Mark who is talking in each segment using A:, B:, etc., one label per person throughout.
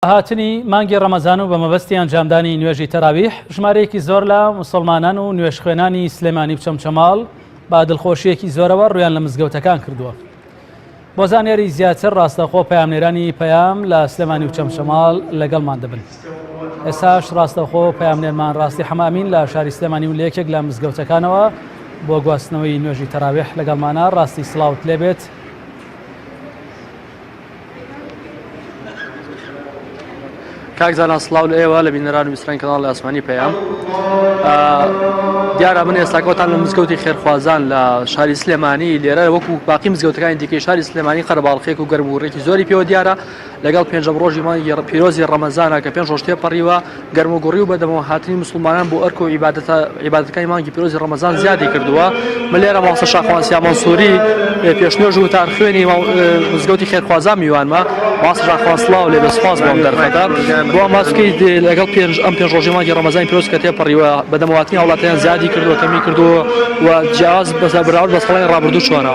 A: هاتنی مانگی ڕەمەزان و بە مەبەستی ئەنجامدانی نوێژی تەراویح ژمارەیەکی زۆر لە مسلمانان و نوێژخوێنانی سلێمانی و چەمچەماڵ با دڵخۆشیەکی زۆرەوە ڕویان لە مزگەوتەکان کردووە بۆ زانیاری زیاتر ڕاستەخۆ پامنێرانی پەیام لە سلێمانی و چەمچەماڵ لەگەڵمان دەبن ئێساش ڕاستەخۆ پامنێرمان ڕاستی حەمامین لە شاری سلێمانی و لەکێک لە مزگەوتەکانەوە بۆ گواستنەوەی نوێژی تەراوێح لەگەڵمانە ڕاستی سلااوت لێبێت
B: کاک زانا سلااو لە ئێوە لە بینەران ویستران کەناڵی ئاسمانی پەیام دیارە من ئێستاکەوتان لە مزگەوتی خێرخوازان لە شاری سلێمانی لێرە وەکو باقی مزگەوتەکانی دیکەی شاری سلێمانی قەرباڵخێک و گەرم و ڕێکی زۆری پێوە دیارە لەگەڵ پێنجەم ڕۆژی مانگی پیرۆزی ڕەمەزانە کە پێنج ڕۆژ تێپەڕیوە گەرموگوڕی و بەدەمەوە هاتنی موسڵمانان بۆ ئەرک و عیبادەتەکانی مانگی پیرۆزی ڕەمەزان زیادی کردووە، لێرە مامۆستا شاخوان سیا مەنسووری پێش نوێژ و وتار خوێنی مزگەوتی خێرخوازان میوانمە، مامۆستا شاخوان سڵاو لێبێت سوپاس بۆ ئەم دەرفەتە، بۆ ئەم باس بکەیت لەگەڵ پێنج ئەم پێنج ڕۆژەی مانگی ڕەمەزانی پیرۆز کە تێپەڕیوە بەدەمەوە هاتنی هاوڵاتیان زیادی کردووە کەمی کردووە و جیاواز بەراورد بە ساڵانی ڕابردوو چۆنە؟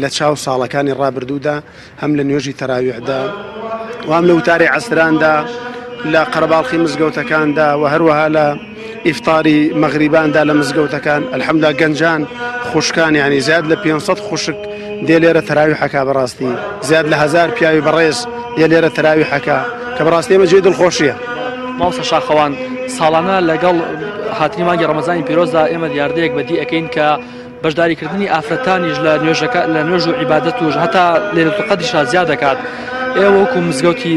C: لە چاو ساڵەکانی ڕابردوودا هەم لە نوێژی تەراویحدا و هەم لە وتاری عەسراندا لە قەرەباڵخی مزگەوتەکاندا و هەروەها لە ئیفتاری مەغریباندا لە مزگەوتەکان ئەلحەمدا گەنجان خوشکان یعنی زیاد لە 500 خوشک دێ لێرە تەراوی حەکا بەڕاستی زیاد لە هزار پیاوی بەڕێز دێ لێرە تەراوی حەکا کە بەڕاستی ئمە جێ دڵخۆشیە ماوسە
B: شاخەوان ساڵانە لەگەڵ هاتنی مانگی ڕەمەزانی پیرۆزدا ئێمە دیاردەیەک بەدی ئەەکەین کە بەشداریکردنی ئافرەتانیش لە نوێژەکە لە نوێژ و عیبادەت و هەتا لێرەتوقەدیشا زیاد دەکات ئێوە وەکو مزگەوتی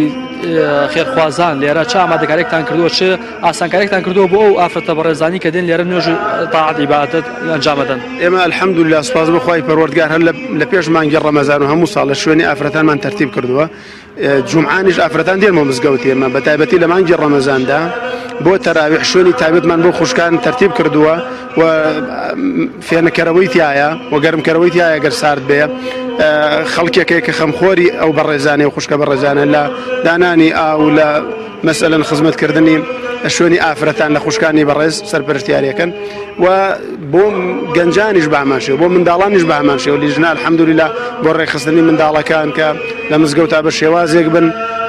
B: خێرخوازان لێرە چ ئامادەکارێکتان کردووە چ ئاسانکارێکتان کردووە بۆ ئەو ئافرەتە بەڕێزانی کە دێن لێرە نوێژ تاعات عیبادەت ئەنجامەدەن ئێمە الحەمدللا
C: سوپاس بەخوای پەروەردگار هەر لە پێش مانگی ڕەمەزان و هەموو ساڵە شوێنی ئافرەتانمان تەرتیب کردووە جومعانیش ئافرەتان دێنمە مزگەوت ئێمە بە تایبەتی لە مانگی ڕەمەزاندا بۆ تەراویح شوێنی تابێتمان بۆ خوشکان تەرتیب کردووە و فێنەکەرەوەی تایە و گەرمکەرەوەی تایە گەر سارد بێ خەڵکێکێک کە خەمخۆری ئەو بەڕێزانانی و خوشکە بەڕێزانە لە دانانی ئاو لە مەسەلەن خزمەت کردنی شوێنی ئافرەتان لە خوشکانی بەڕێز سەرپەرشتیارەکەن و بۆ گەنجانیش بامانشێ بۆ منداڵانیش بامانشێ و لیژنال حەمدوریلا بۆ ڕێکخستنی منداڵەکان کە لە مزگەوتا بە شێوازێک بن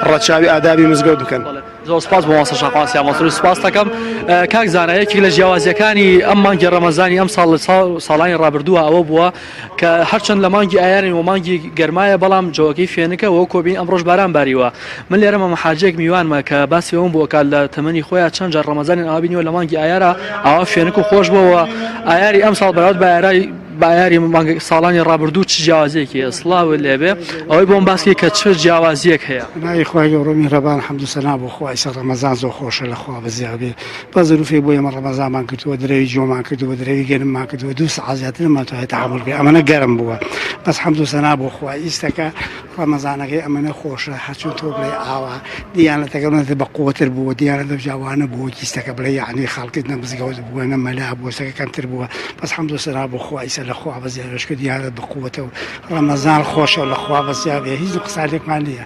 C: ڕەچاوی ئادابی مزگەوت بکەن زۆر سپاس بۆ ماسە
B: شاقاسیا مەسرور سپاس دەکەم کاک زانایەکی لە جیاوازیەکانی ئەم مانگی ڕەمەزانی ئەم ساڵ ساڵانی ڕابردووە ئەوە بووە کە هەرچەند لە مانگی ئایارین و مانگی گەرمایە بەڵام جۆگەی فێنکە وەو کۆبین ئەمڕۆش باران باریوە من لێرە مەمە حاجێک میوانمە کە باسی ئەوم بۆ کات لە تەمەنی خۆیان چەند جار ڕەمەزانیان ئاوا بینیوە لە مانگی ئایارا ئاوا فێنک و خۆش بۆوە ئایاری ئەم ساڵ بەراورد بە ئایرای بایاری مانگ ساڵانی ڕابردوو چ جیاوازیەکی ئەسڵاو لێبێ ئەوەی بۆم باسکی کە چ جیاوازیەک هەیە. ناوی خوای گەورە و
D: میهرەبان حەمد و سەنا بۆ خوای سە ڕەمەزان زۆر خۆشە لە خوا بەزیابێ. با زروفێ بۆ ئێمە ڕەمەزانمان کردووە درەوی جۆمان کردووە درەوی گەرممان کردووە دوو سەعات زیاتر نەمانتوانێت تەحەموول بکەین ئەمەنە گەرم بووە بەس حەمد و سەنا بۆ خوا ئیستەکە ڕەمەزانەکەی ئەمەنە خۆشە هەرچۆن تۆ بڵێ ئاوا دیانەتەکە نەتە بە قووەتر بووە دیانە دەجاوانە بووە کیستەکە بڵێ یعنی خەڵکت نە مزگەوت بووە نە مەلا بووە سەکە کەمتر بووە بەس حەمد و سەنا بۆ خوا ئیسە لە خوا بەزیارەشکە دیانەت بە قووەتە و ڕەمەزان خۆشە لە خوا بەزیابێ هیچ قسانێکمان نییە